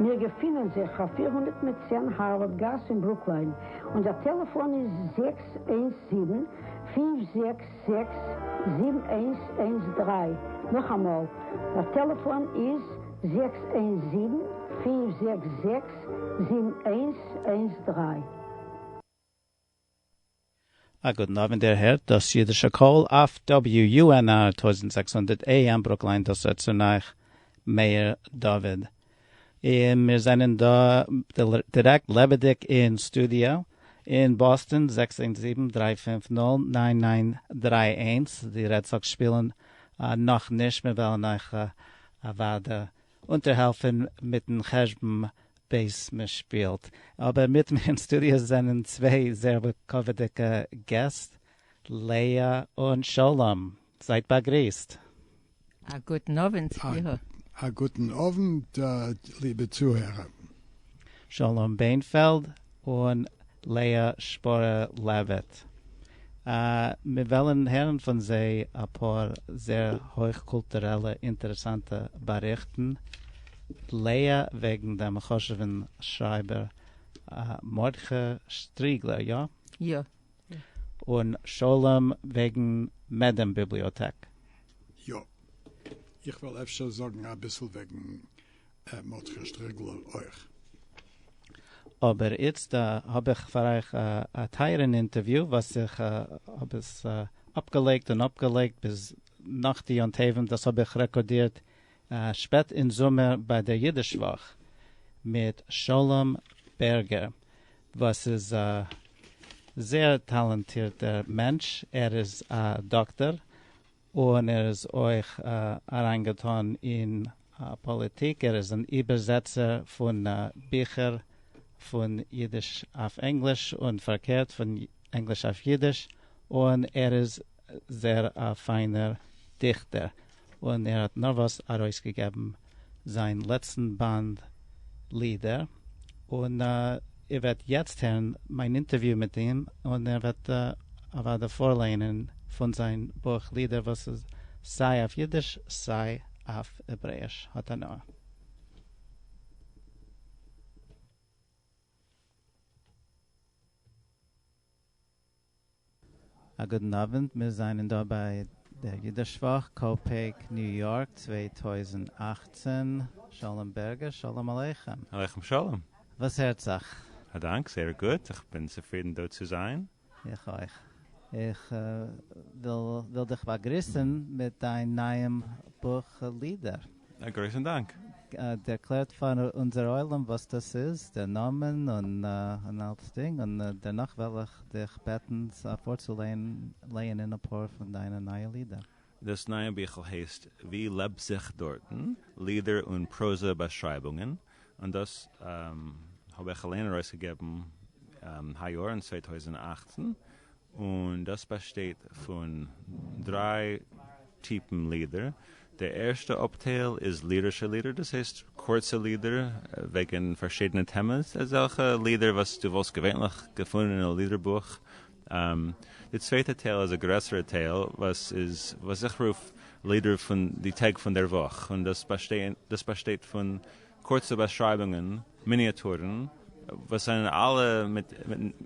מיר געפינען זיך אויף פֿיר הונדערט מיט צען הארווארד גאס אין ברוקליין, און דער טעלעפאן איז זעקס איינס זיבן, פֿינף זעקס זעקס, זיבן איינס איינס דרײַ, נאכאמאל, דער טעלעפאן איז זעקס איינס זיבן, פֿינף זעקס זעקס, זיבן איינס איינס דרײַ. א גוטן אווענט איר הערט דאס אידישע קול אויף WUNR טויזנט זעקס הונדערט AM ברוקלין דאס רעדט צון אייך מאיר דוד און מיר זענען דא דירעקט לעבעדיג אין סטודיא אין באסטען זעקס איינס זיבן דריי פֿינף נול נײַן נײַן דרײַ איינס די רעד סאקס שפילן נאך נישט מיר וועלן אייך אוודאי אונטערהעלפן מיטן חשבון בעת מ'שפילט. אבער מיט מיר אין סטודיא זענען צוויי זייער לכבוד'דיגע געסט, לאה און שלום. זייט באגריסט. א גוטן אווענט סליחה. א גוטן אווענט ליבע צוהערער. שלום בענפעלד און לאה שפרה לעוויט. מיר וועלן הערן פון זיי אפאר זעהר הויך קולטורעלע אינטערעסאנטע באריכטן, לאה וועגן דעם חשוב'ן שרייבער מרדכי שטריגלער, יא? יא. און שלום וועגן מעדעם ביבליאטעק. יא. איך וועל אפשר זאגן אביסל וועגן. מרדכי שטרעגלער אויך. אבער איצט האב איך פאר אייך א טייערען אינטערוויו וואס איך האב עס אפגעלייגט און אפגעלייגט ביז נאך די יום טובים, דאס האב איך רעקארדירט שפעט אין זומער ביי דער אידיש וואך מיט שלום בערגער וואס איז א זייער טאלאנטירטער מענטש, ער איז א דאקטאר און ער איז אויך אריינגעטון אין פאליטיק, ער איז אן איבערזעצער פון ביכער פון אידיש אויף ענגליש און פארקערט פון ענגליש אויף אידיש, און ער איז זייער א פיינער דיכטער, און ער האט נארוואס ארויסגעגעבן זיין לעצטן באנד לידער, און איר וועט יעצט הערן מיין אינטערוויו מיט אים, און ער וועט אוודאי פארלייענען פון זיין בוך לידער וואס איז סיי אויף אידיש סיי אויף העברעיש. האט הנאה. א גוטן אווענט, מיר זענען דא ביי דער אידישוואך ק פ ק ניו יארק צוויי טויזנט אַכצן, שלום בערגער שלום עליכם. עליכם שלום. וואס הערט זיך? א דאנק, זייער גוט, איך בין צופרידן דא צו זיין. איך אויך. איך וויל וויל דיך באגריסן מיט דיין נייעם בוך לידער. א גרויסן דאנק. ערקלערט פאר אונזער עולם וואס דאס איז, דער נאמען און אלץ דינג, און דערנאך וועל איך דיך בעטן פארצולייענען אפאר פון דיינע נייע לידער. דאס נייע ביכל הייסט ווי לעבט זיך דארטן, לידער און פראזע באשרייבונגען, און דאס האב איך אליין ארויסגעגעבן היי יאר אין צוויי טויזנט אַכצן, און דאס באשטייט פון דריי טיפן לידער, די ערשטע אפטייל איז לירישע לידער, דאס הייסט קורצע לידער וועגן פארשידענע טעמעס, אזעלכע לידער וואס דו וואלסט געווענליך געפונען אין א לידער בוך, די צווייטע טייל איז א גרעסערע טייל וואס איז וואס איך רוף לידער פון די טעג פון דער וואך און דאס באשטייט פון קורצע באשרייבונגען, מיניאטורן, וואס זענען אלע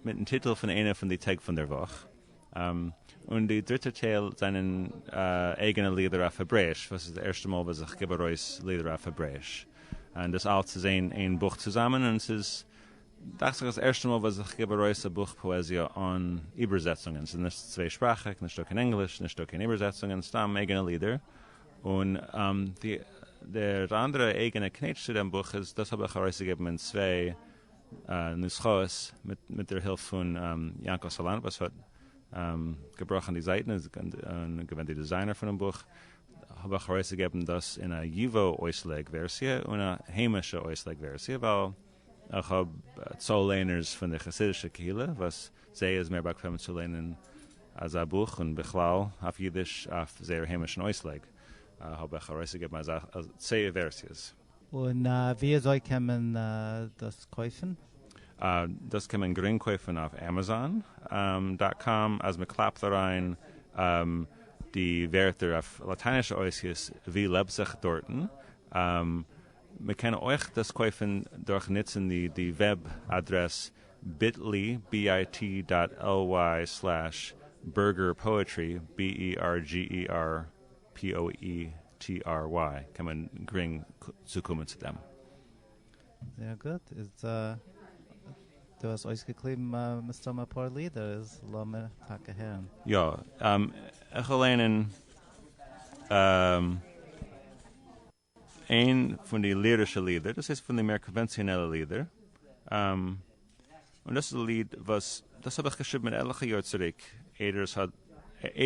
מיטן טיטל פון איינע פון די טעג פון דער וואך, און די דריטע טייל זענען אייגענע לידער אויף העברעיש וואס איז די ערשטע מאל וואס איך גיב ארויס לידער אויף העברעיש און דאס אלץ איז אין איין בוך צוזאמען און עס איז דאכט זיך אז ערשטע מאל וואס איך גיב ארויס א בוך פאעזיע אן איבערזעצונגען, ס'איז נישט צוויי שפראכיג, נישטא קיין ענגליש, נישטא קיין איבערזעצונגען, סתם אייגענע לידער, און דער אנדערע אייגענע קנעטש צו דעם בוך איז דאס האב איך ארויסגעגעבן אין צוויי נוסחאות מיט דער הילף פון יענקל סאלאנט וואס האט געבראכן די זייטן און געווען די דיזיינער פונעם בוך, האב איך ארויסגעגעבן דאס אין א ייווא אויסלייג ווערסיע און א היימישע אויסלייג ווערסיע ווייל. איך האב צאל ליינערס פון די חסידישע קהילה וואס זיי איז מער באקוועם צו ליינען אזא בוך און בכלל אויף אידיש אויף זייער היימישן אויסלייג האב איך ארויסגעגעבן אזא צוויי ווערסיעס. און וויאזוי קען מען דאס קויפן? דאס קען מען גרינג קויפן אויף עמעזאן דאט קאם אז מען קלאפט אריין די ווערטער אויף לאטיינישע אויסגעס ווי לעבט זיך דארטן. מען קען אויך דאס קויפן דורך נוצן די די וועב אדרעס ביטלי, bit.ly, סלעש burgerpoetry, bergerpoetry, קען מען גרינג צוקומען צו דעם. זייער גוט, איז דא, דו האסט אויסגעקליבן מסתמא אפאר לידער, איז לאמיר טאקע הערן. יא, איך וועל ליינען. איין פון די לירישע לידער, דאס איז פון די מער קאנווענציאנעלע לידער, און דאס איז א ליד וואס דאס האב איך געשריבן עטליכע יאר צוריק, איידער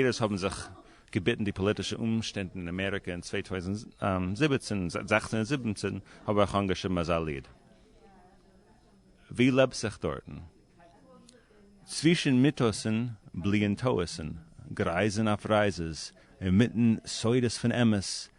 עס האבן זיך געביטן די פאליטישע אומשטענדן אין אמעריקע אין צוויי טויזנט זיבעצן, זעכצן און זיבעצן האב איך אנגעשריבן אזא ליד. ווי לעבט זיך דארטן? צווישן מיטאסן בליען טעות'ן, גרייזן אויף רייזעס, אינמיטן סודות פון אמת,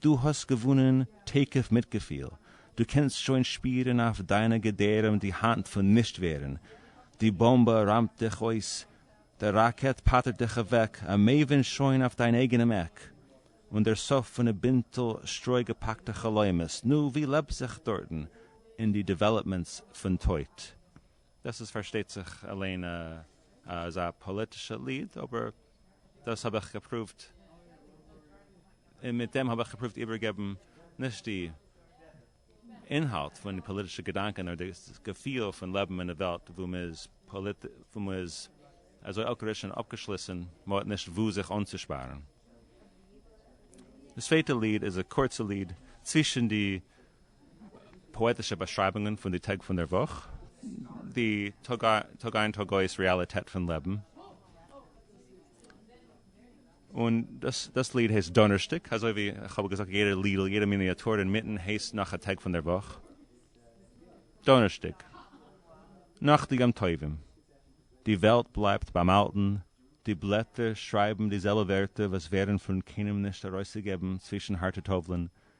דו האסט געוואונען תוקף מיט געפיל, דו קענסט שוין שפירן אויף דיינע געדערעם די האנט פון נישט ווערן, די באמבע ראמט דיך אויס, דער ראקעט פאטערט דיך אוועק, א מעבין שוין אויף דיין אייגענעם עק, און דער סוף פון א בינטל שטרוי געפאקטע חלומות, נו ווי לעבט זיך דארטן אין די דעוועלאפמענטס פון טויט? דאס איז פארשטייט זיך אליין אזא פאליטישע ליד, אבער דאס האב איך געפרואווט, און מיט דעם האב איך געפרואווט איבערגעבן נישט די אינהאלט פון די פאליטישע געדאנקען, נאר דאס געפיל פון לעבן אין א וועלט וואו מען איז אזוי אלקעריש און אפגעשליסן, מען האט נישט וואו זיך אנצושפארן. די צווייטע ליד איז א קורצע ליד צווישן די פאעטישע באשרייבונגען פון די טעג פון דער וואך, די טאג איין טאג אויס רעאליטעט פון לעבן, און דאס ליד הייסט דאנערשטאג, אזוי ווי איך האב געזאגט יעדער לידל, יעדער מיניאטור אינמיטן הייסט נאך א טאג פון דער וואך, דאנערשטאג, נאך די יום טובים, די וועלט בלייבט ביים אלטן, די בלעטער שרייבן די זעלבע ווערטער וואס ווערן פון קיינעם נישט ארויסגעגעבן צווישן הארטע טובלען,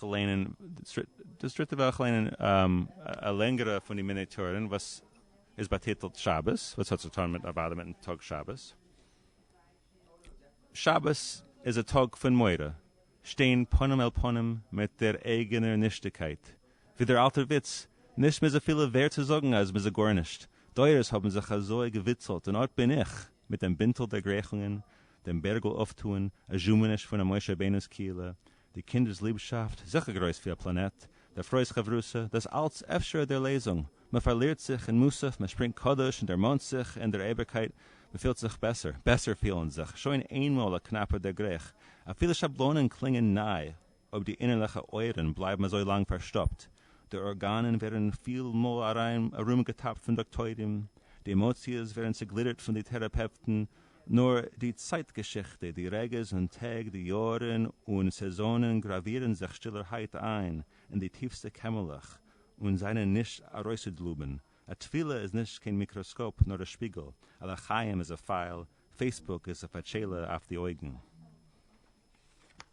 כ'לערנען דאס דריטע וואך כ'לערנען א לענגערע פון די מיני טורים וואס איז באטיטלט שבת וואס האט צוטאן מיט אוודאי מיטן טאג שבת. שבת איז א טאג פון מורא, שטיין פנים אל פנים מיט דער אייגענער נישטיגקייט, ווי דער אלטער וויץ, נישט מ'איז אפילו ווערד צו זאגן אז מ'איז א גארנישט, דורות האבן זיך אזוי געוויצלט און אט בין איך! מיט דעם בינטל דערגרייכונגען, דעם בערגל אויפטוען, א זשומעניש פון א משה רבינו'ס קהילה, די קינדער'ס ליבשאפט, זיכער גרויס ווי א פלאנעט, דער פרוי'ס חברותא, דאס אלץ אפשר'ע דערלעזונג, מען פארלירט זיך אין מוסף, מען שפרינגט קדוש און דערמאנט זיך אין דער אייביגקייט, מען פילט זיך בעסער, בעסער פילן זיך, שוין איינמאל א קנאפער דערגרייך, אפילו שבלונען קלינגען ניי. אויב די אינערליכע אויערן בלייבן אזוי לאנג פארשטאפט, די ארגאנען ווערן פיל מאל ארומגעטאפט פון דאקטוירים, די עמאציעס ווערן צעגלידערט פון די טעראפעפטן, נאר די צייט געשיכטע, די רגעס און טעג, די יאהרן און סעזאנען גראווירן זיך שטילערהייט איין אין די טיפסטע קעמערלעך און זענען נישט ארויסצודלובן. א תפילה איז נישט קיין מיקראסקאופ נאר א שפיגל, א לחיים איז א פייל, פעיסבוק איז א פאטשעלע אויף די אויגן.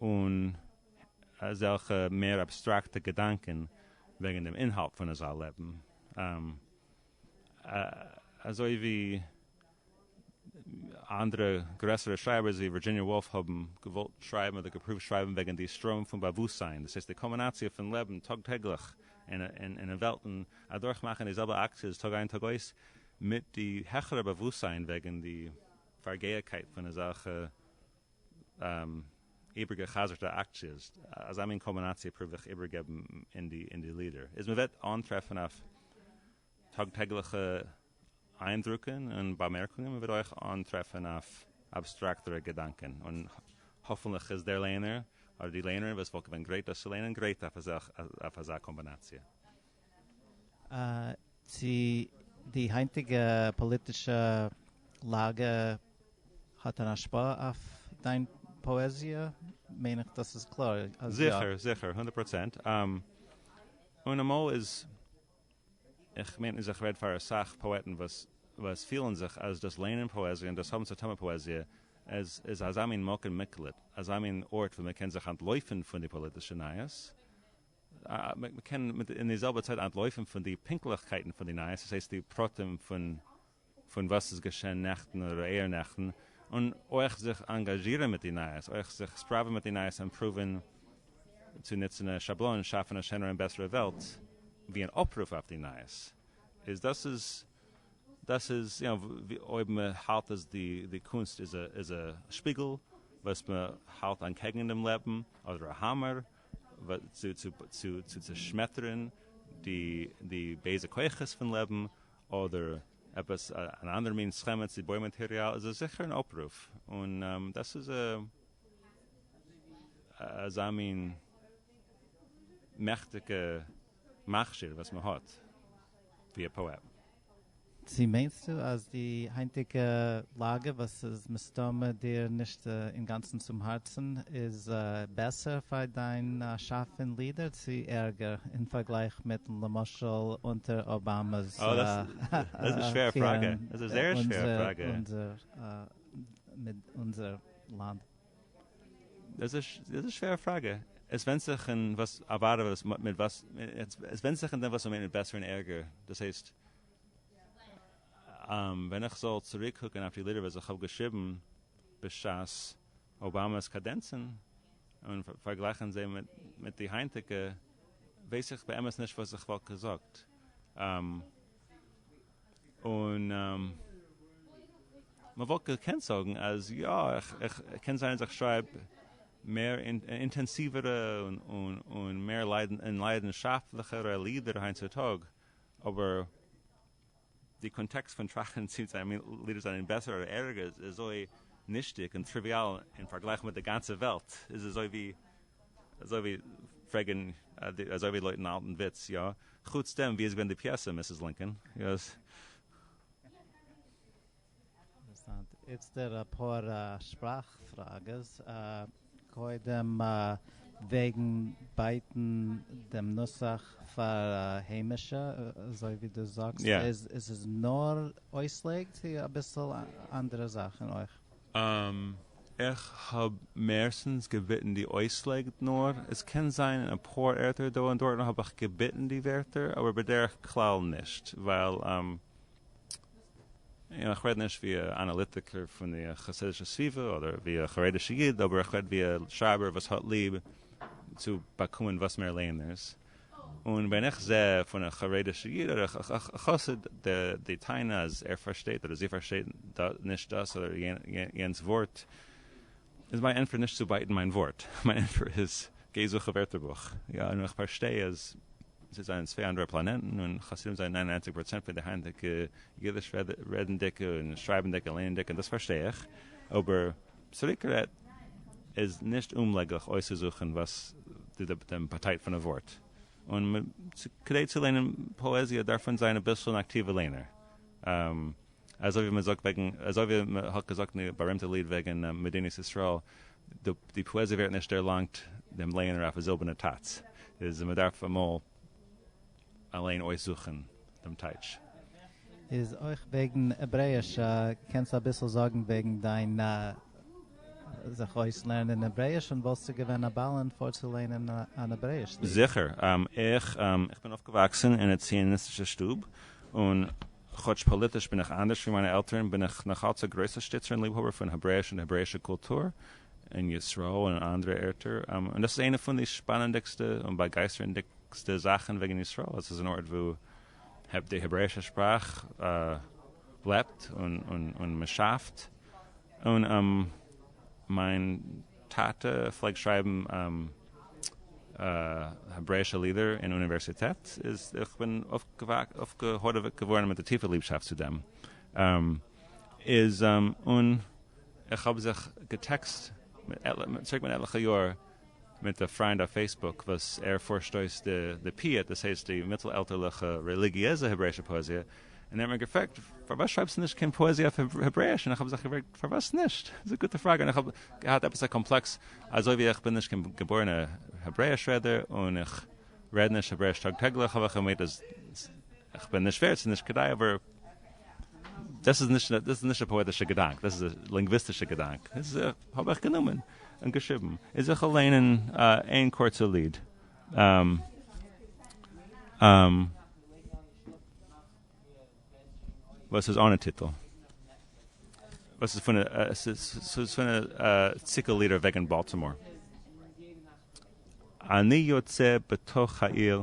און אזעלכע מער אבסטראקטע געדאנקען וועגן דעם אינהאלט פון אזא לעבן, אזוי ווי אנדערע גרעסערע שרייבערס ווי ווירדזשיניע וואלף האבן געוואלט שרייבן אדער געפרואווט שרייבן וועגן די סטראם פון באוואוסטזיין, דאס הייסט די קולמינאציע פון לעבן טאג טעגליך אין וועלטן, אדורך מאכן די זעלבע אקציעס טאג איין טאג אויס, מיט די העכערע באוואוסטזיין וועגן די פארגעה'קייט פון אזעלכע. איבערגעחזר'טע אקציעס, אזא מין קאמבינאציע פרוביר איך איבערגעבן אין די לידער, איז מען וועט אנטרעפן אויף טאג טעגליכע איינדרוקן און באמערקונגען, מען וועט אויך אנטרעפן אויף אבסטראקטערע געדאנקען, און האפנליך איז דער ליינער אדער די ליינערין וואס וואלט געווען גרייט דאס צו ליינען גרייט אויף אזא קאמבינאציע. צו די היינטיגע פאליטישע לאגע האט אן השפעה אויף דיין פאעזיע מיין איך דאס איז קלאר אז יא. זיכער זיכער הונדערט פראצענט. און אמאל איז, איך מיין אז איך רעד פאר אסאך פאעטן וואס וואס פילן זיך אז דאס ליינען פאעזיע און דאס האבן צו טון מיט פאעזיע איז איז אזא מין מקום מקלט, אזא מין ארט וואו מען קען זיך אנטלויפן פון די פאליטישע נייעס, מען קען אין די זעלבע צייט אנטלויפן פון די פונקטליכקייטן פון די נייעס, דאס הייסט די פרטים פון וואס איז געשען נעכטן אדער אויערנעכטן, און אויך זיך אנגאזשירן מיט די נייעס, אויך זיך ספראווען מיט די נייעס, אימפראווען צו נוצן א שאבלאן, שאפן א שענערע און בעסערע וועלט, ווי אן אפרוף אויף די נייעס, איז דאס איז דאס איז יו נאו, אויב מען האלט אז די קונסט איז א שפיגל וואס מען האלט אנטקעגן דעם לעבן, אדער א האמער, צו צעשמעטערן די בייזע כוחות פון לעבן, אדער עפעס אן אנדערע מין סכמה צו בוי מאטעריאל, איז עס זיכער אן אפרוף, און דאס איז אזא מין מעכטיגע מכשיר וואס מען האט ווי א פאעט. צו מיינסטו אז די היינטיגע לאגע וואס איז מסתמא דיר נישט אינגאנצן צום הארצן איז בעסער פאר דיין שאף פון לידער צו ערגער אין פארגלייך מיט למשל אונטער אבאמא'ס פירן אונזער מיט אונזער לאנד? דאס איז א שווערע פראגע. עס ווענדט זיך אין וואס עבארט וואס מ מיט וואס עס ווענדט זיך אין דעם וואס מ'מיינט מיט בעסער און ערגער. דאס הייסט, ווען איך זאל צוריקקוקען אויף די לידער וואס איך האב געשריבן בשעת אובאמא'ס קאדענצען און פארגלייכען זיי מיט די היינטיגע, ווייס איך באמת נישט וואס איך וואלט געזאגט. און מען וואלט געקענט זאגן אז יא, קען זיין אז איך שרייב מער אינטענסיווערע און מער ליידנשאפטליכערע לידער היינט צו טאג, אבער די קאנטעקסט פון טראכטן צי זיינע לידער זענען בעסער אדער ערגער איז אזוי נישטיג און טריוויאל אין פארגלייך מיט די גאנצע וועלט, איז אזוי ווי. אזוי ווי פרעגן אזוי ווי לויטן אלטן וויץ, יא? חוץ דעם ווי איז געווען די פיעסע מיסיס לינקאן? אינטערעסאנט. איצטער אפאר שפראך פראגעס. קודם וועגן בייטן דעם נוסח פאר היימישע, אזוי ווי דו זאגסט, איז עס נאר אויסלייג צו אביסל אנדערע זאכן אויך? איך האב מערסטנס געביטן די אויסלייג נאר עס קען זיין אין אפאר ערטער דא און דארטן האב איך געביטן די ווערטער אבער בדרך כלל נישט ווייל איך רעד נישט ווי א אנאליטיקער פון די חסידישע סביבה אדער ווי א חרדישע איד אבער איך רעד ווי א שרייבער וואס האט ליב צו באקומען וואס מער ליינערס. און ווען איך זע פון א חרדישע איד אדער א חסיד די טענה אז ער פארשטייט אדער זי פארשטייט נישט דאס אדער יענץ ווארט, איז מיין ענטפער נישט צו בייטן מיין ווארט, מיין ענטפער איז גיי זוך א ווערטערבוך, יא און איך פארשטיי אז זיי זענען צוויי אנדערע פלאנעטן און חסידים זענען ניין און ניינציג פראצענט פון די היינטיגע אידיש רעדנדיגע און שרייבנדיגע און לערנענדיגע און דאס פארשטיי איך אבער צוריקגערעדט, איז נישט אומלעגליך אויסצוזוכן וואס די דעם באטייט פון א ווארט, און מ צ כדי צו ליינען פאעזיע דארף מען זיין אביסל אן אקטיווע ליינער, אזוי ווי מען זאגט וועגן, אזוי ווי מען האט געזאגט אין די בארימטע ליד וועגן מדינת ישראל, ד די פאעזיע ווערט נישט דערלאנגט דעם לייענער אויף א זילבערנע טאץ, איז מען דארף אמאל אליין אויסזוכן דעם טייטש. איז אויך וועגן העברעיש, קענסט אביסל זאגן וועגן דיין זיך אויסלערנען העברעיש און וואלסטו געווען א בעל און פארצולערנען אן העברעיש ליד? זיכער, איך בין אויפגעוואקסן אין א ציוניסטישע שטוב, און כאטש פאליטיש בין איך אנדערש ווי מיינע עלטערן, בין איך נאכאלץ א גרויסע שטיצער און ליבהאבער פון העברעיש און העברעישע קולטור אין ישראל און אין אנדערע ערטער, און דאס איז איינע פון די שפאנענדיגסטע און באגייסטערנדיגסטע וויכטיגסטע זאכן וועגן ישראל אז עס איז אן ארט וואו די העברעישע שפראך לעבט און מען שאפט און מיין טאטע פלעגט שרייבן העברעישע לידער אין אוניווערסיטעט איז איך בין אויפגעהאדעוועט געווארן מיט א טיפע ליבשאפט צו דעם איז און איך האב זיך געטעקסט צוריק מיט עטליכע יאר. מיט א פריינד אויף פעיסבוק וואס ער פארשט אויס די פיוט, דאס הייסט די מיטל-עלטערליכע רעליגיעזע העברעישע פאעזיע, און ער האט מיר געפרעגט פארוואס שרייבסטו נישט קיין פאעזיע אויף העברעיש, און איך האב זיך געפרעגט פארוואס נישט? דאס איז א גוטע פראגע, און איך האב געהאט עפעס א קאמפלעקס אזוי ווי איך בין נישט קיין געבוירענע העברעיש רעדער און איך רעד נישט העברעיש טאג טעגליך האב איך געמיינט אז איך בין נישט ווערד, ס'איז נישט כדאי אבער. דאס איז נישט א פאעטישע געדאנק, דאס איז א לינגוויסטישע געדאנק, איז האב איך גענומען און געשריבן, איז איך וועל ליינען איין קורצע ליד. וואס איז אנע טיטל. וואס איז פון ס'איז פון א ציקל לידער וועגן באלטימאר. אני יוצא בתוך העיר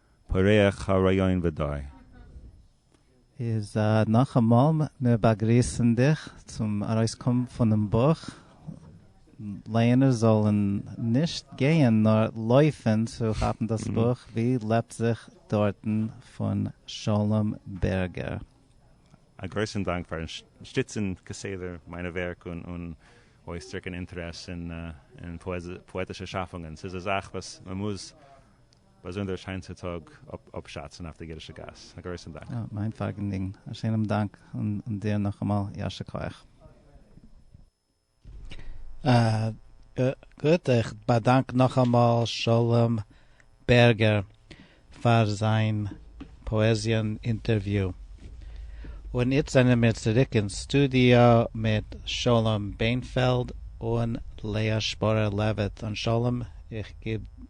פורח הרעיון ודי. איז נאכאמאל, מיר באגריסן דיך צום ארויסקום פונעם בוך, לייענער זאלן נישט גייען נאר לויפן צו כאפן דאס בוך, ווי לעבט זיך דארטן פון שלום בערגער. א גרויסן דאנק פארן שטיצן כסדר מיינע ווערק און אויסדרוקן אינטערעס אין פאעטישע שאפונגען, ס'איז א זאך וואס מ'מוז באזונדער א שיין צוטאג אפשאצן אויף די גערישע גאס. א גרויסן דאנק. יא, מיין פארגענדינג. א שענעם דאנק און דיר נאכאמאל יישר כח. גוט, איך באדאנק נאכאמאל שלום בערגער פאר זיין פאעזיען אינטערוויו. און איצט זענען מיר צוריק אין סטודיאו מיט שלום בענפעלד און לאה שפורער לעוויט. און שלום, איך גיב.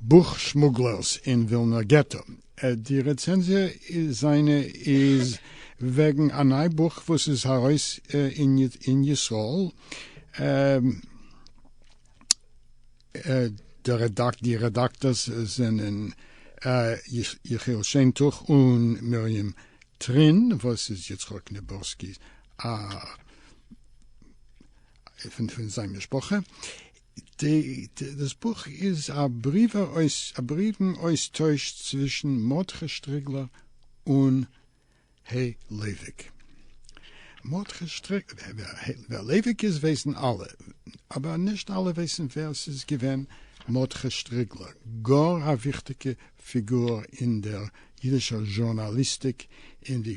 בוך שמוגלערס אין ווילנער געטא. די רעצענזיע זיינע איז וועגן א ניי בוך וואס איז ארויס אין ישראל, די רעדאקטארס זענען יחיאל שיינטוך און מרים טרין, וואס איז יצחק ניבורסקי פון זיין משפחה. דאס בוך איז א בריוון אויסטויש צווישן מרדכי שטריגלער און ה' לייוויק. מרדכי שטריגלער, ווער לייוויק איז ווייסן אלע, אבער נישט אלע ווייסן ווער ס'איז געווען מרדכי שטריגלער, גאר א וויכטיגע פיגור אין דער אידישער זשורנאליסטיק אין די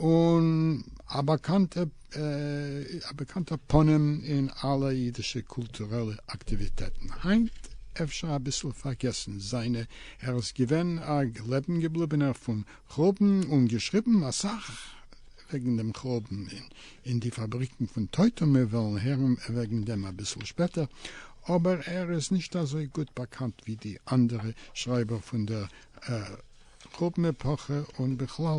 און א באקאנטע פנים אין אלע אידישע קולטורעלע אקטיוויטעטן, היינט אפשר אביסל פארגעסן, זיינע ער איז געווען א לעבן געבליבענער פון חורבן און געשריבן אסאך וועגן דעם חורבן אין די פאבריקן פון טויט און מיר וועלן הערן וועגן דעם אביסל שפעטער, אבער ער איז נישט אזוי גוט באקאנט ווי די אנדערע שרייבער פון דער חורבן עפאכע און בכלל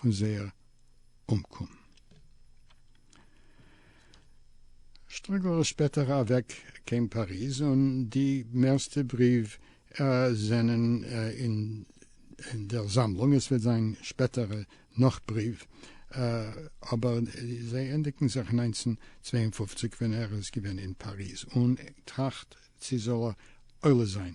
פון זייער אומקום. שטרוגל איז שפעטער אוועק קיין פאריז און די מערסטע בריוו זענען אין דער זאמלונג, עס וועט זיין שפעטער נאך בריוו אבער זיי ענדיגן זיך אין נײַנצן צוויי און פֿופֿציק ווען ער איז געווען אין פאריז און טראכט צי זאל ער עולה זיין.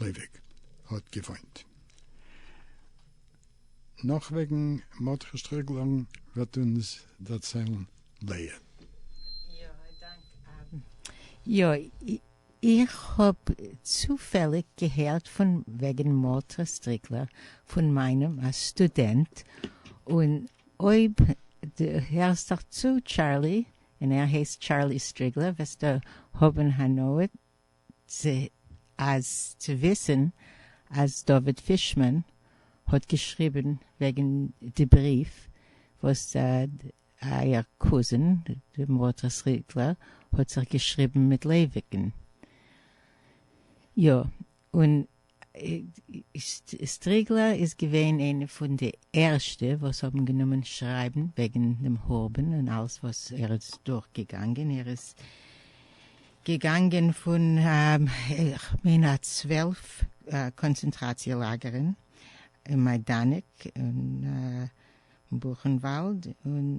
לייוויק האט געוואוינט. נאך וועגן מרדכי שטריגלען וועט אונז דערציילן לאה. יא, איך האב צופעליג געהערט פון וועגן מרדכי שטריגלער פון מיינעם א סטודענט, און אויב דו הערסט דיך צו טשארלי, און ער הייסט טשארלי שטריגלער, וועסטו האבן הנאה צ אז צו וויסן אז דוד פישמאן האט געשריבן וועגן די בריוו וואס אייער קוזין די מרדכי'ס ריטלער האט זיך געשריבן מיט לעוויקן. יא און סטריגלער איז געווען איינע פון די ערשטע וואס האבן גענומען שרייבן וועגן דעם חורבן און אלעס וואס ער איז דורך געגאנגען, ער איז געגאנגען פון כ'מיין א צוועלף קאנצענטראציע לאגערן, אין מיידאנעק און בוכענוואלד און.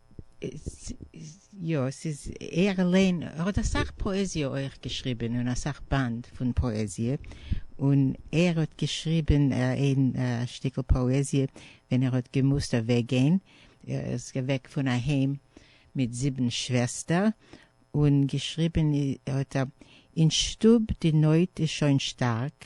יא, ס'איז ער אליין, ער האט אסאך פאעזיע אויך געשריבען און אסאך באנד פון פאעזיע, און ער האט געשריבען איין שטיקעל פאעזיע ווען ער האט געמוזט אוועק גיין, ער איז אוועק פון אהיים מיט זיבען שוועסטער, און געשריבען האט ער, אין שטוב די נויט איז שוין שטארק,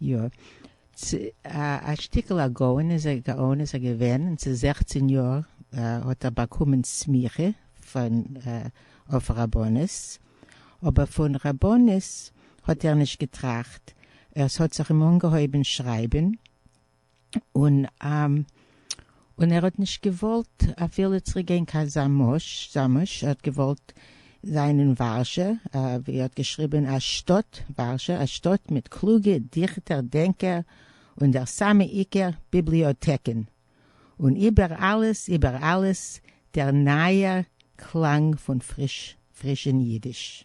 יא. צ א שטיקל א גאון איז א גאון איז ער געווען און צו זעכצן יאר האט ער באקומען סמיכה פון אויף רבנות אבער פון רבנות האט ער נישט געטראכט ער ס'האט זיך אים אנגעהויבען שרייבען און און ער האט נישט געוואלט אפילו צוריק גיין קיין זאמוש, ער האט געוואלט זיין אין ווארשע, ווי ער האט געשריבען א שטאט, ווארשע, א שטאט מיט קלוגע דיכטער דענקער און דער סאמע עיקר ביבליאטעקען, און איבער אלעס איבער אלעס דער נייער קלאנג פון פריש פרישען אידיש.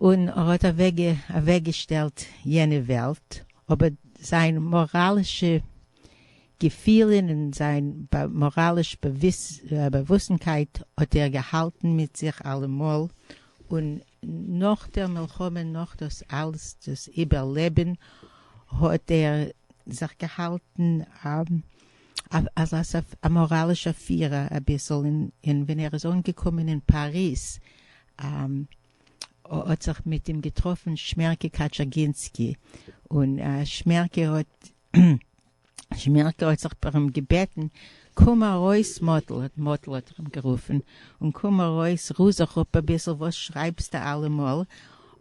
און ער האט אוועקגעשטעלט יענע וועלט, אבער זיין מאראלישע געפילען און זיין מאראליש באוואוסנקייט האט ער געהאלטן מיט זיך אלעמאל, און נאך דער מלחמה נאך דאס אלס דאס איבערלעבען האט ער זיך געהאלטן א. אז א מאראלישע פירער אביסל און ווען ער איז אנגעקומען אין פאריז האט זיך מיט אים געטראפן שמערקע קאטשאגינסקי און שמערקע האט שמערקע האט זיך פאר אים געבעטן קום ארויס מאטל האט מאטל האט ער אים גערופן און קום ארויס רו זיך אפ אביסל וואס שרייבסטו אלעמאל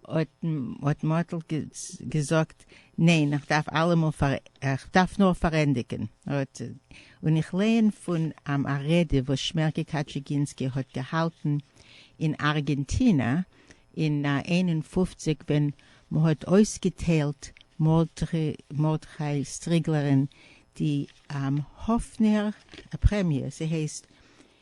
האט האט מאטל געזאגט ניין איך דארף אלעמאל פאר איך דארף נאר פארענדיגען. און איך לייען פון עם א רעדע וואס שמערקע קאטשיגינסקי האט געהאלטען אין ארגענטינא אין איין און פֿופֿציק ווען מהאט אויסגעטיילט מרדכי סטריגלערען די האפנער פרעמיע ס'הייסט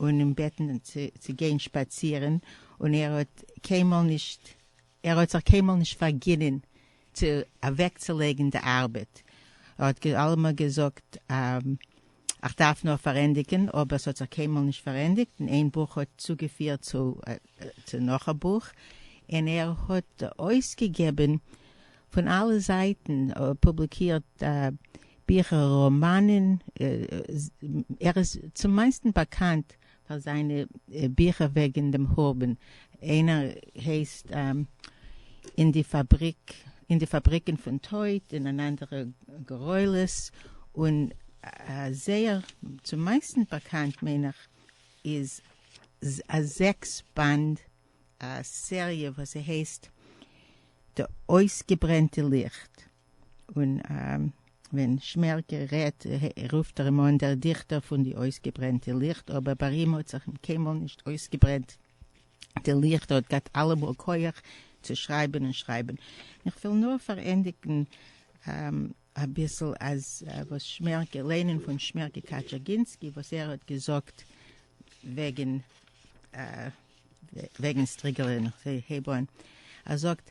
און אים בעטן צו גיין שפאצירן, און ער האט קיינמאל נישט ער האט זיך קיינמאל נישט פארגינען צו אוועקצולייגן די ארבעט, ער האט אלעמאל געזאגט איך דארף נאר פארענדיגן, אבער עס האט זיך קיינמאל נישט פארענדיגט, און איין בוך האט צוגעפירט צו נאך א בוך, און ער האט אויסגעגעבן פון אלע זייטן, פובליקירט ביכער, ראמאנען, ער איז צום מיינסטן באקאנט פאר זיינע ביכער וועגן דעם חורבן, איינער הייסט אין די פאבריק, אין די פאבריקן פון טויט און אן אנדערע גורלות, און זייער צום מיינסטן באקאנט מיין איך איז א זעקס באנד סעריע וואס ס'הייסט די אויסגעברענטע ליכט. און ווען שמערקע רעדט רופט ער אים אן דער דיכטער פון די אויסגעברענטע ליכט, אבער ביי אים האט זיך קיינמאל נישט אויסגעברענט די ליכט, ער האט געהאט אלעמאל כח צו שרייבען און שרייבען. איך וויל נאר פארענדיגען אביסל אז וואס שמערקע, ליינען פון שמערקע קאטשערגינסקי וואס ער האט געזאגט וועגען וועגען סטריגעלען, איך הייב אן, ער זאגט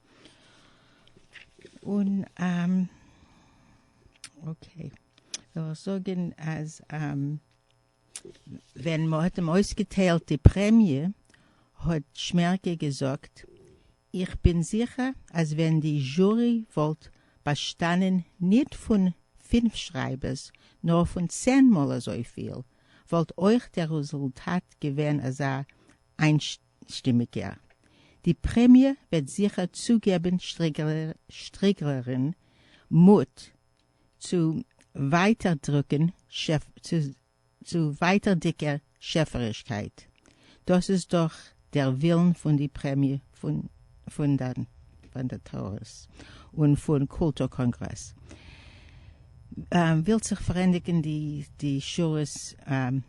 און אקעי וועל איך זאגען אז ווען מ'האט אים אויסגעטיילט די פרעמיע האט שמערקע געזאגט איך בין זיכער אז ווען די זשורי וואלט באשטאנען ניט פון פֿינף שרייבערס נאר פון צען מאל אזויפיל וואלט אויך דער רוזולטאט געווען אזא שטימיגער. די פרעמיע וועט זיכער צוגעבן שטריגלערין מוט צו ווייטערדיגער שעפערישקייט. דאס איז דאך דער ווילן פון די פרעמיע פאנדעטארס און פון קולטור קאנגרעס. ווילט זיך פארענדיגן די שורות.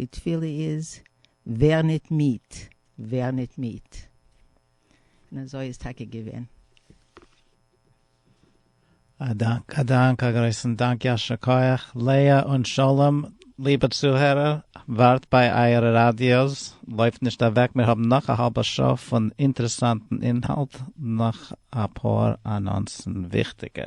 די תפילה איז ווער ניט מיד, ווער ניט מיד. און אזוי איז טאקע געווען. א דאנק, א דאנק, א גרויסן דאנק, יישר כח, לאה און שלום, ליבע צוהערער, ווארט ביי אייערע ראדיאס, לויפט נישט אוועק, מיר האבן נאך א האלבע שעה פון אינטערעסאנטן אינהאלט, נאך אפאר אנאנסן, וויכטיגע.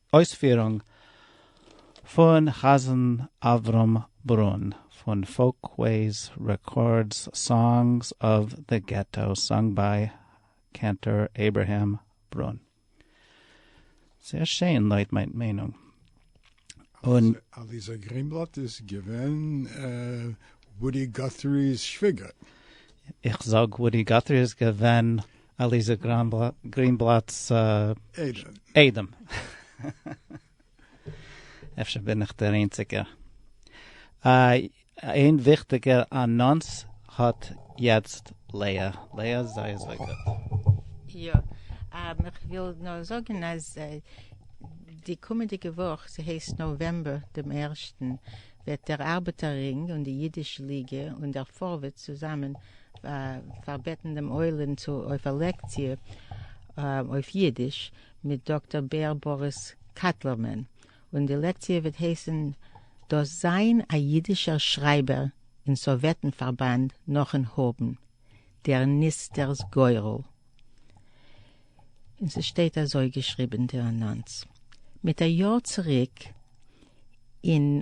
אויספירונג פון חזן אברהם ברון פון פאלקוועיס רעקארדס סאנגס אוו דע געטאו סאנג ביי קענטאר אברהם ברון. זייער שיין לויט מיין מיינונג. און. אליעזר גרינבלאט איז געווען וואודי גאטרי'ס שוויגער. איך זאג וואודי גאטרי איז געווען אליזא גרינבלאט'ס איידעם. אפשר בין איך דער איינציגער. איין וויכטיגער אנאנס האט יעצט לאה. לאה איז זייער זייער גוט. יא. איך וויל נאר זאגן אז די קומענדיגע וואך, ס'הייסט נאוועמבער דעם ערשטן, וועט דער ארבעטער רינג און די אידיש ליגע און דער פארווערטס צוזאמען פארבעטן דעם עולם צו אויף א לעקציע אויף אידיש מיט דאקטער בער באריס קאטלערמאן, און די לעקציע וועט הייסן דאס זיין א אידישער שרייבער אין סאוועטן פארבאנד נאכן האבן דער נסתר'ס גורל, און ס'שטייט אזוי געשריבן די אנאנס מיט א יאר צוריק אין.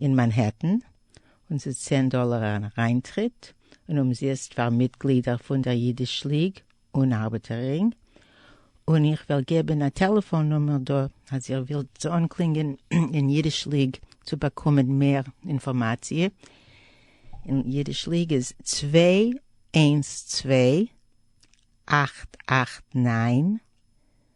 אין מאנהעטן, און ס'איז צען דאלער אריינטריט, און אומזיסט פאר מיטגלידער פון דער אידיש ליג און ארבעטער רינג, און איך וועל געבן א טעלעפאן נומער דא אז איר ווילט אנקלינגען אין אידיש ליג צו באקומען מער אינפארמאציע, אין אידיש ליג איז צוויי איינס צוויי אַכט אַכט נײַן.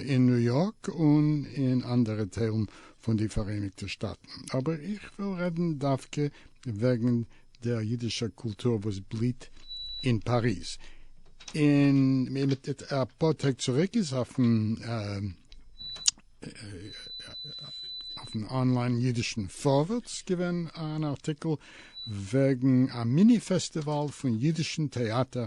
אין ניו יארק און אין אנדערע טיילן פון די פאראייניגטע שטאטן, אבער איך וויל רעדן דווקא וועגן דער אידישער קולטור וואס בליט אין פאריז. און אפאר טעג צוריק איז אויפן אנליין אידישן פארווערטס געווען אן ארטיקל וועגן א מיני פעסטיוואל פון אידישן טעאטער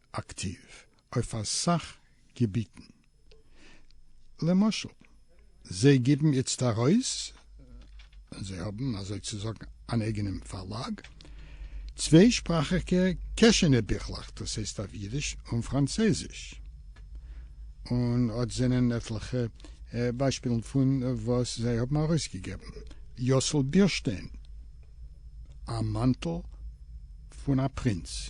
אקטיוו אויף אסאך געביטן, למשל זיי גיבן איצט ארויס, און זיי האבן אזוי צו זאגן אן אייגענעם פארלאג, צוויי שפראכיגע קעשענע ביכלעך, דאס הייסט אויף אידיש און פראנצייזיש, און אט זענען עטליכע ביישפילן פון וואס זיי האבן ארויסגעגעבן, יוסל בירשטיין, א מאנטל פון א פרינץ.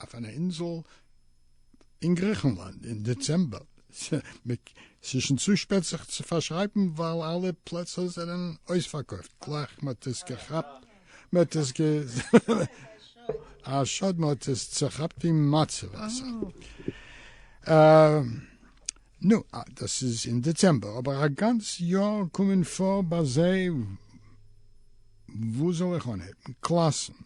אויף אן אינזל אין גריכנלאנד אין דעצעמבער, ס'איז שוין צו שפעט זיך צו פארשרייבן ווייל אלע פלעצער זענען אויספארקויפט גלייך מ'האט עס געכאפט, מ'האט עס א שאד מ'האט עס צוכאפט אין מצה וואסער, נו דאס איז אין דעצעמבער אבער א גאנץ יאר קומען פאר ביי זיי, וואו זאל איך אנהייבן? קלאסן?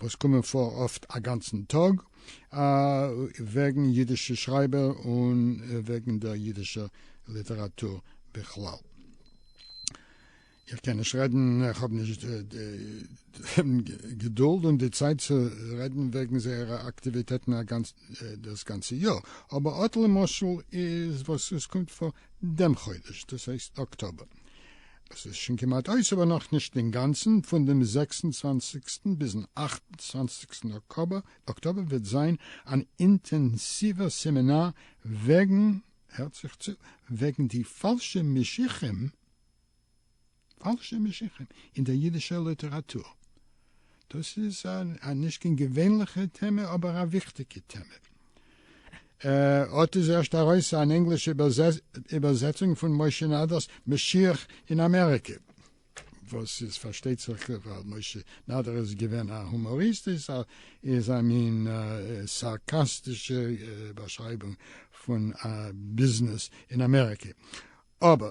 וואס קומען פאר אפט א גאנצן טאג, וועגן אידישע שרייבער און וועגן דער אידישער ליטעראטור בכלל. איך קען נישט רעדן, איך האב נישט דעם געדולד און די צייט צו רעדן וועגן זייערע אקטיוויטעטן דאס גאנצע יאר, אבער אט למשל איז וואס עס קומט פאר דעם חודש, דאס הייסט אקטאבער. עס איז שוין כמעט אויס אבער נאך נישט אינגאנצן, פון דעם זעקס און צוואנציגסטן ביזן אכט און צוואנציגסטן אקטאבער וועט זיין אן אינטענסיווער סעמינאר וועגן, הערט זיך צו, וועגן די פאלשע משיחים, פאלשע משיחים, אין דער אידישער ליטעראטור. דאס איז א נישט קיין געווענליכע טעמע אבער א וויכטיגע טעמע. אט איז ערשט ארויס אן ענגלישע איבערזעצונג פון משה נאדער'ס משיח אין אמעריקע, וואס איז פארשטייט זיך ווייל משה נאדער איז געווען א הומאריסט איז א מין סארקאסטישע באשרייבונג פון ביזנעס אין אמעריקע, אבער.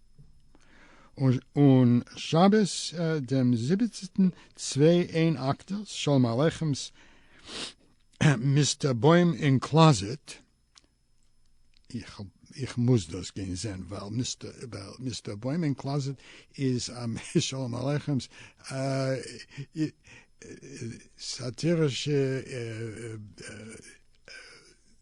און שבת דעם זיבעצטן צוויי איין אקטערס שלום עליכם'ס מיסטער בוים אין קלאזעט, איך מוז דאס גיין זעהן ווייל מיסטער בוים אין קלאזעט איז שלום עליכם'ס סאטירישע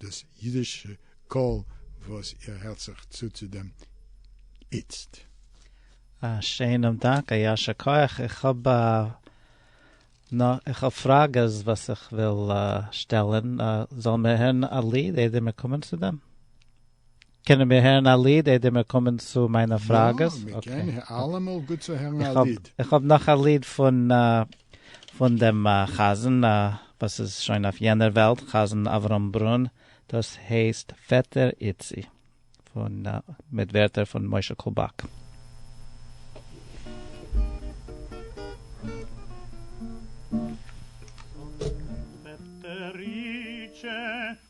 דאס אידישע קול וואס איר הערט זיך צו צו דעם איצט. א שענעם דאנק, א יישר כח. איך האב נאך, איך האב פראגעס וואס איך וויל שטעלען. זאלען מיר הערען א ליד איידער מיר קומען צו דעם? קענען מיר הערן א ליד איידער מיר קומען צו מיינע פראגעס? יא, מיר קענען אלעמאל גוט צו הערן א ליד. איך האב נאך א ליד פון פון דעם חזן וואס איז שוין אויף יענער וועלט, חזן אברהם ברון, דאס הייסט פעטער איצי, פון מיט ווערטער פון משה קובאק. פעטער איצי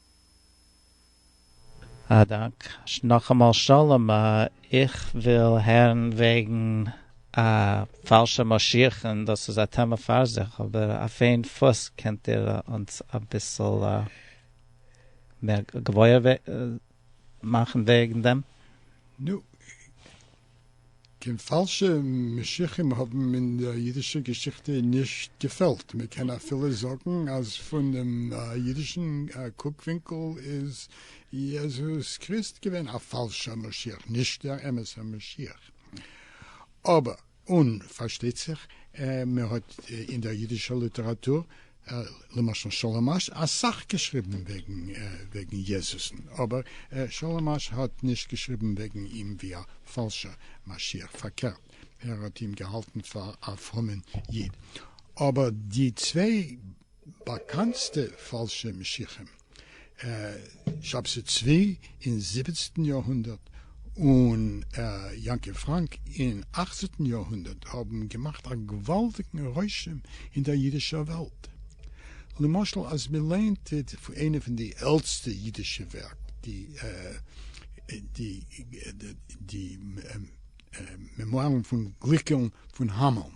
א דאנק. נאכאמאל שלום, איך וויל הערן וועגן א פאלשע משיח און דאס איז א טעמע פאר זיך, אבער אויף איין פוס קענט איר אונז אביסל מער געוואויר מאכן וועגן דעם? נו. קיין פאלשע משיחים האבן אין דער אידישער געשיכטע נישט געפעלט, מען קען אפילו זאגן אז פון דעם אידישן קוק-ווינקל איז יעזוס קריסט געווען א פאלשער משיח, נישט דער אמת'ער משיח. אבער, און פארשטייט זיך, מען האט אין דער אידישער ליטעראטור למשל שלום אש אסאך געשריבן וועגן יעזוס'ן, אבער שלום אש האט נישט געשריבן וועגן אים ווי א פאלשער משיח, פארקערט ער האט אים געהאלטן פאר א פרומען איד, אבער די צוויי באקאנטסטע פאלשע משיחים שבתי צבי אין זיבעצנטן יארהונדערט און יעקב פראנק אין אכצנטן יארהונדערט האבן געמאכט א געוואלדיגן רושם אין דער אידישער וועלט. למשל אז מען ליינט איינע פון די עלטסטע אידישע ווערק, די מעמוארן פון גליקען פון האמעלן.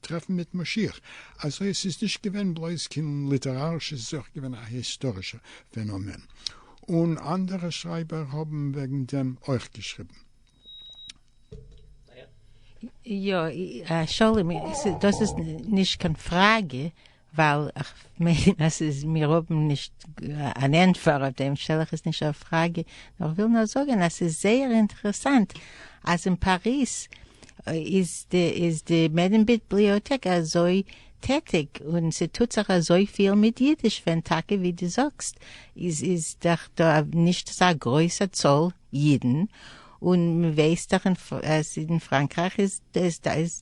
טרעפן מיט משיח, אזוי עס איז נישט געווען בלויז קיין ליטערארישע, עס איז אויך געווען א היסטארישע פענאמען, און אנדערע שרייבער האבן וועגן דעם אויך געשריבן. יא, שלום, דאס איז נישט קיין פראגע, ווייל כ'מיין אז ס'איז מיר האבן נישט אן ענטפער אויף דעם שטעל איך עס נישט א פראגע נאר כ'וויל נאר זאגען אז ס'איז זייער אינטערעסאנט אז אין פאריז איז די איז די מעדעם ביבליאטעק אזוי טעטיג און ס'טוט זיך אזויפיל מיט אידיש ווען טאקע ווי די זאגסט איז איז דאך דא נישט אזא גרויסע צאל אידן און מ'ווייסט דאך אז אין פראנקרייך איז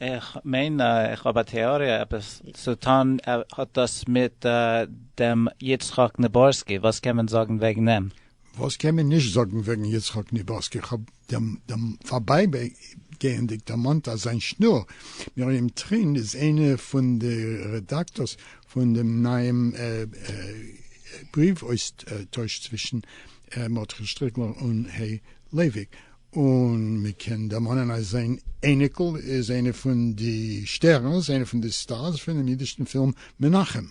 איך מיין איך האב א טעאריע עפעס צו טון האט דאס מיט דעם יצחק ניבורסקי וואס קען מען זאגן וועגן אים? וואס קען מען נישט זאגן וועגן יצחק ניבורסקי? איך האב דעם פארבייגייענדיג דערמאנט אז זיין שנור מרים טרין איז איינע פון די רעדאקטארס פון דעם נייעם בריוו אויסטויש צווישן מרדכי שטריקלער און ה' לייוויק, און מען קען דערמאנען אז זיין אייניקל איז איינע פון די שטערנס, איינע פון די סטארס פונעם אידישן פילם מנחם.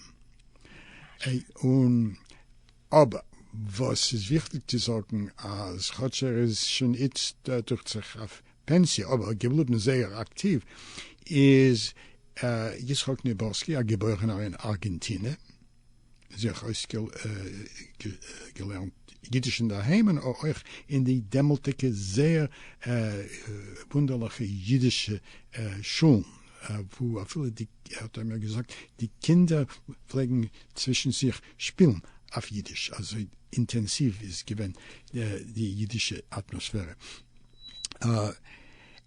און אבער וואס איז וויכטיג צו זאגן אז כאטש ער איז שוין איצט דוכט זיך אויף פענסיע אבער געבליבן זייער אקטיוו איז יצחק ניבורסקי א געבוירענער אין ארגענטינע, זיך אויסגעלערנט יידיש אינדערהיים און אויך אין די דעמאלטדיגע זייער וואונדערליכע יידישע שולן, וואו אפילו די, האט ער מיר געזאגט, די קינדער פלעגן צווישן זיך שפילן אויף יידיש, אזוי אינטענסיוו איז געווען די יידישע אטמאספערע.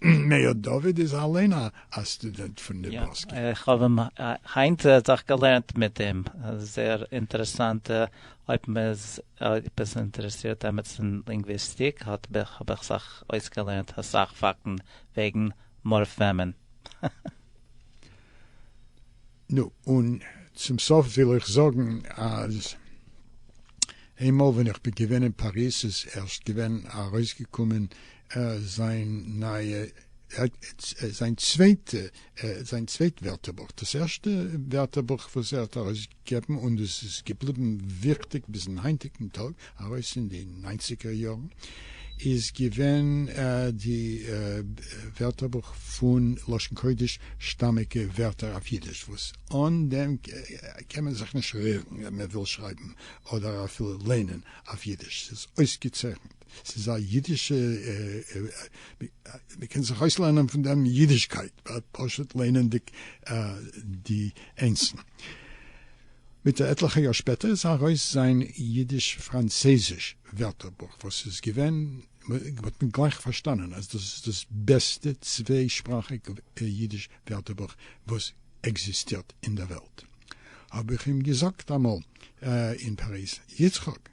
מאיר דוד איז אליין א סטודענט פון נבראסקע. יא, איך האב אים היינט זיך געלערנט מיט אים, זייער אינטערעסאנט, אויב מען איז עפעס אינטערעסירט עמיצן אין לינגוויסטיק האט מיך האב איך זיך אויסגעלערנט אסאך פאקטן וועגן מארפעמען. נו, און צום סוף וויל איך זאגן אז איינמאל ווען איך בין געווען אין פאריז איז ערשט געווען ארויסגעקומען זיין נייע, זיין צווייטע, זיין צווייט ווערטערבוך, דאס ערשטע ווערטערבוך וואס ער האט ארויסגעגעבן און דאס איז געבליבן וויכטיג ביזן היינטיגן טאג, ארויס אין די ניינציגער יארן איז געווען די ווערטערבוך פון לשון קודש שטאמיגע ווערטער אויף אידיש וואס אן דעם קען מען זיך נישט רירן ווען מען וויל שרייבן אדער אפילו ליינען אויף אידיש ס'איז אויסגעצייכנט ס'איז א אידישע מען קען זיך אויסלערנען פון דעם אידישקייט פשוט ליינענדיג די אינסן. מיט א עטליכע יאר שפעטער איז ארויס זיין אידיש-פראנצייזיש ווערטערבוך וואס איז געווען, מ'האט גלייך פארשטאנען אז דאס איז דאס בעסטע צוויי שפראכיג אידיש ווערטערבוך וואס עקזיסטירט אין דער וועלט. האב איך אים געזאגט אמאל אין פאריז, יצחק!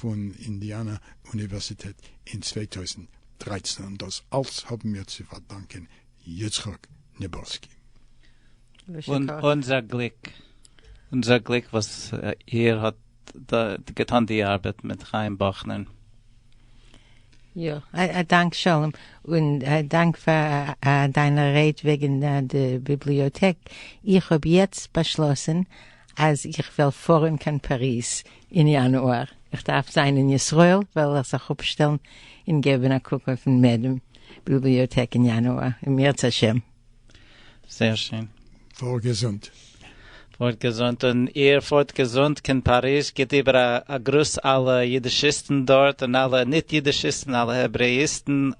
פון אינדיאנא אוניווערסיטעט אין צוויי טויזנט דרײַצן און דאס אלס האבן מיר צו פארדאנקען יצחק נבולסקי. און אונזער גליק, אונזער גליק וואס איר האט געטאן די ארבעט מיט חיים באכנער. יא, א דאנק שלום, און א דאנק פאר דיינע רייד וועגן די ביבליאטעק, איך האב יעצט באשלאסן אז איך וועל פארען קיין פאריז אין יאנואר, איך דארף זיין אין ישראל וועל איך זיך אפשטעלן אין געבען א קוק אויפן מעדעם ביבליאטעק אין יאנואר אם ירצה השם. זייער שיין. פאר געזונט. פארט געזונט און איר פארט געזונט קיין פאריזש גיט איבער א גרוס אלע אידישיסטן דארט און אלע ניט אידישיסטן אלע העברעאיסטן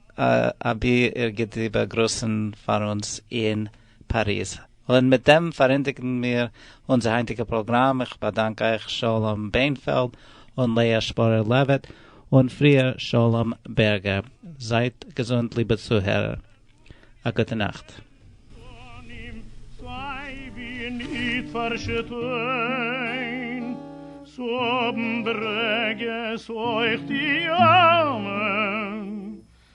אבי איר גיט איבער גרוסן פאר אונז אין פאריז. און מיט דעם פארענדיגן מיר אונזער היינטיגע פראגראם, איך באדאנק אייך שלום בענפעלד און לאה שפורער לעוויט, און פריער שלום בערגער. זייט געזונט ליבע צוהערער. א גוטע נאכט. פנים צוויי ווי ניט פארשטיין צו האבן ברוגז אויך די אלמן.